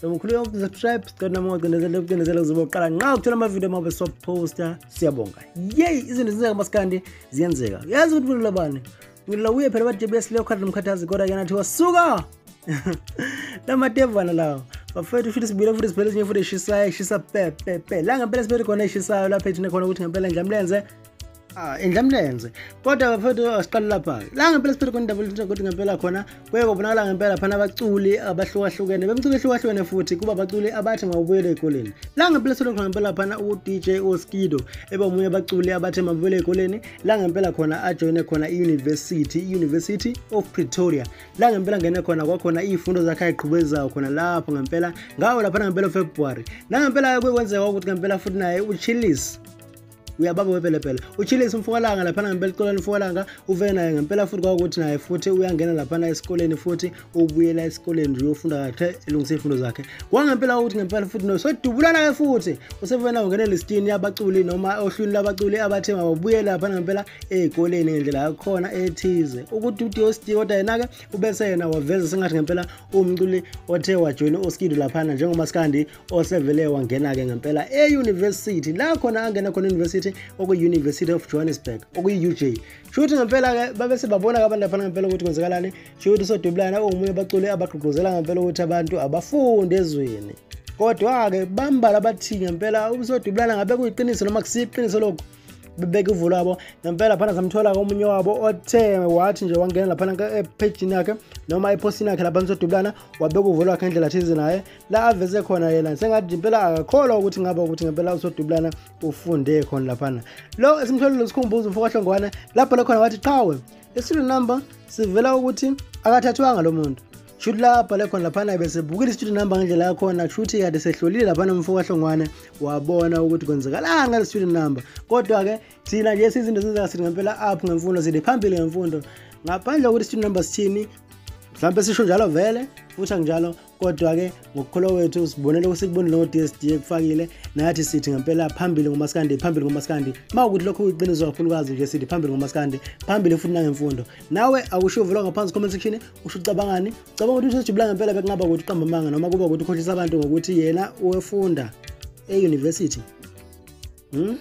so ngikhuleka ukusubscribe sicela nami ungacindezela ukucindezela uzobe uqala nxa ukuthola amavidiyo mabe soposta siyabonga yeyi izinto zenzeka masikandi ziyenzeka yazi ukuthi mina labani ngilila uye phela ba-jbs leyo khathi nomkhathazi kodwa ke nathi wasuka lamatevana lawo bafethu futhi sibuyile futhi siphele ezinye futhi eshisayo eshisa pepepe la ngempela siphele khona eshisayo lapha ethine khona ukuthi ngempela nje amlenze Ah, indlamlenze kodwa bafethu asiqale lapha la ngempela siphethe khona indaba lutho ukuthi ngempela khona kuye kubonakala ngempela phana abaculi abahlukahlukene bemculo ehlukahlukene futhi kuba abaculi abathi mabuyele eyikoleni la ngempela sithethe khona ngempela phana u-dj oskido eba omunye abaculi abathe mabuyele eyikoleni la ngempela khona ajoyine khona i-university i-university of pretoria la ngempela ngene khona kwakhona iy'fundo zakhe ayigqhubezayo khona lapho ngempela ngawo laphana ngempela february nangempela kuye kwenzeka ukuthi ngempela futhi naye uchillis uyabamba wepelepele uchilise umfokalanga laphana ngempela esikoleni umfokalanga uve naye ngempela futhi kwakuthi naye futhi uyangena laphana esikoleni futhi ubuyela esikoleni nje uyofunda kahle elungisa iy'fundo zakhe kwangempela ukuthi ngempela futhi no sodubulana-ke futhi usevena ungene listini yabaculi noma ohlwini labaculi abathe mababuye laphana ngempela ey'koleni ngendlela yakhona ethize ukuthi udiosdi kodwa yena-ke ubese yena waveza sengathi ngempela uwumculi othe wajoyina oskido laphana njengomaskandi osevele wangena-ke ngempela e-university la khona angena khona university okuyi-university of johannesburg okuyi-uj sho ukuthi ngempela-ke babese babona-ke abantu laphana ngempela ukuthi kwenzekalani sho ukuthi usodubulana ungomunye abaculi abagqugquzela ngempela ukuthi abantu abafunde ezweni kodwa-ke bambala bathi ngempela usodubulana ngabe kuyiqiniso noma kusiyiqiniso lokhu bebeka ivulo yabo ngempela phana samthola komunye wabo othe wathi nje wangena laphana ephejini yakhe noma ephosini yakhe lapha nisodubulana wabeka uvulo wakhe ngendlela thize naye la aveze khona yena sengathi impela akakholwa ukuthi ngaba ukuthi ngempela usodubulana ufunde khona laphana lo esimtholile sikhumbuza umfokahlongwane lapho le khona wathi qhawe isilo number sivela ukuthi akathathwanga lo muntu shuthi lapha lekhona laphana besebukile i-student number ngendlela yakhona kushuthi kade sehlolile laphana umfo kahlongwane wabona ukuthi kwenzekalani ngale student number kodwa-ke thina nje sizinto zenzeka sithi ngempela up ngemfundo sithi phambili ngemfundo ngaphandle kokuthi student number sithini mhlawumbe sisho njalo vele futhi anginjalo kodwa-ke ngokukholwa kwethu sibonele kusikubonile ngo-dsd ekufakile nathi sithi ngempela phambili ngomasikandi phambili ngomasikandi ma ukuthi lokho kuyiqiniso kakhulukazi nje sithi phambili ngomasikandi phambili futhi nangemfundo nawe akusho uvula ngaphansi comment section usho ucabangani ucabanga ukuthi usejubula ngempela bekungaba ukuthi uqamba amanga noma kuba ukuthi ukhohlisa abantu ngokuthi yena uwefunda e-university Hmm?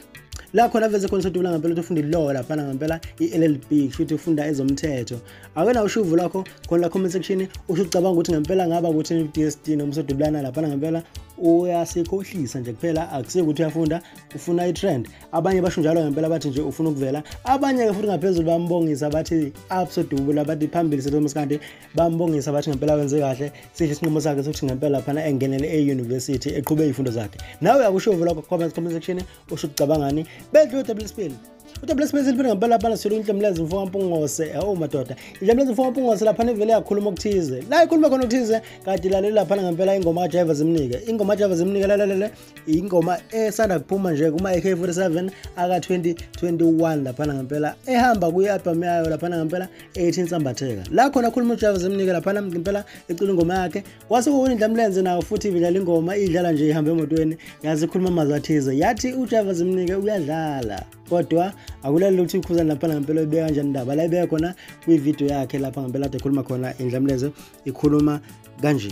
la khona veze khona sodubula ngempela ukuthi ufunda ilaw laphana ngempela i-llb kushuthi ufunda ezomthetho awena ushuvu lakho khona la comment section usho ucabanga ukuthi ngempela ngaba ukuthi i-dst noma sodubulana laphana ngempela uyasikhohlisa nje kuphela akusiyo ukuthi uyafunda ufuna i-trend abanye basho njalo ngempela bathi nje ufuna ukuvela abanye-ke futhi ngaphezulu bambongisa bathi absodubula bathi phambili setomas kanti bambongisa bathi ngempela wenze kahle sihle isinqumo sakhe sokuthi ngempela phana engenele e-university eqhube izifundo zakhe nawe akusho uvula comment comment section usho ucabangani bedle udabula isipili udabula isipili siliphi ngempela phana silo inhlamlezi mfo kampungose awu oh, madoda inhlamlezi mfo kampungose lapha nevele yakhuluma okuthize la ikhuluma khona okuthize kade lalela lapha ngempela ingoma ka driver zimnike ingoma ka driver zimnike lalalele ingoma esanda kuphuma nje kuma AK47 aka 2021 lapha ngempela ehamba kuyi album yayo lapha ngempela ethi insambatheka la khona khuluma ujava zimnike laphana ngempela ecula ingoma yakhe kwase kuwindla mlenze nawo futhi ibidlala ingoma idlala nje ihambe emotweni yazi khuluma amazwi athize yathi ujava zimnike uyadlala kodwa akulali ukuthi ukhuzani laphana ngempela ibeka kanjani indaba la ibeka khona kwividiyo yakhe lapha ngempela ade khuluma khona indlamlenze ikhuluma kanje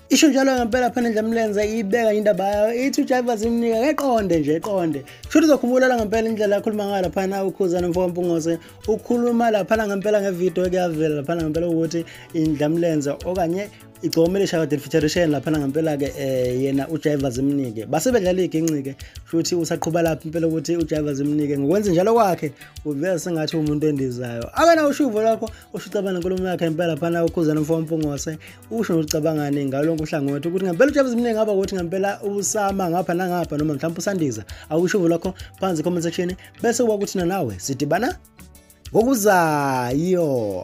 isho njalo ngempela phana nje mlenze ibeka indaba yayo ithi uJaiva zimnika keqonde nje eqonde shuthi uzokhumbulela ngempela indlela akhuluma ngayo laphana ukhuzana mfo wampungose ukhuluma laphana ngempela ngevideo ekuyavela laphana ngempela ukuthi indlamlenze okanye igcome lishaya kade lifeaturation laphana ngempela-ke um eh, yena ujiva zimnike base bedlala iginci-ke futhi usaqhuba lapho impela ukuthi ujiva zimnike ngokwenza njalo kwakhe uveza sengathi umuntu endizayo akana ushuvo lwakho ushucabana nkulumo yakhe impela phana ukhuzana mfo wampungose ukusho nokucabangani ngalonke uhlangothi ukuthi ngempela ujabu zimningi ngaba ukuthi ngempela usama ngapha nangapha noma mhlawumbe usandiza awushuvo lakho phansi comment section bese kuba ukuthi nanawe sidibana ngokuzayo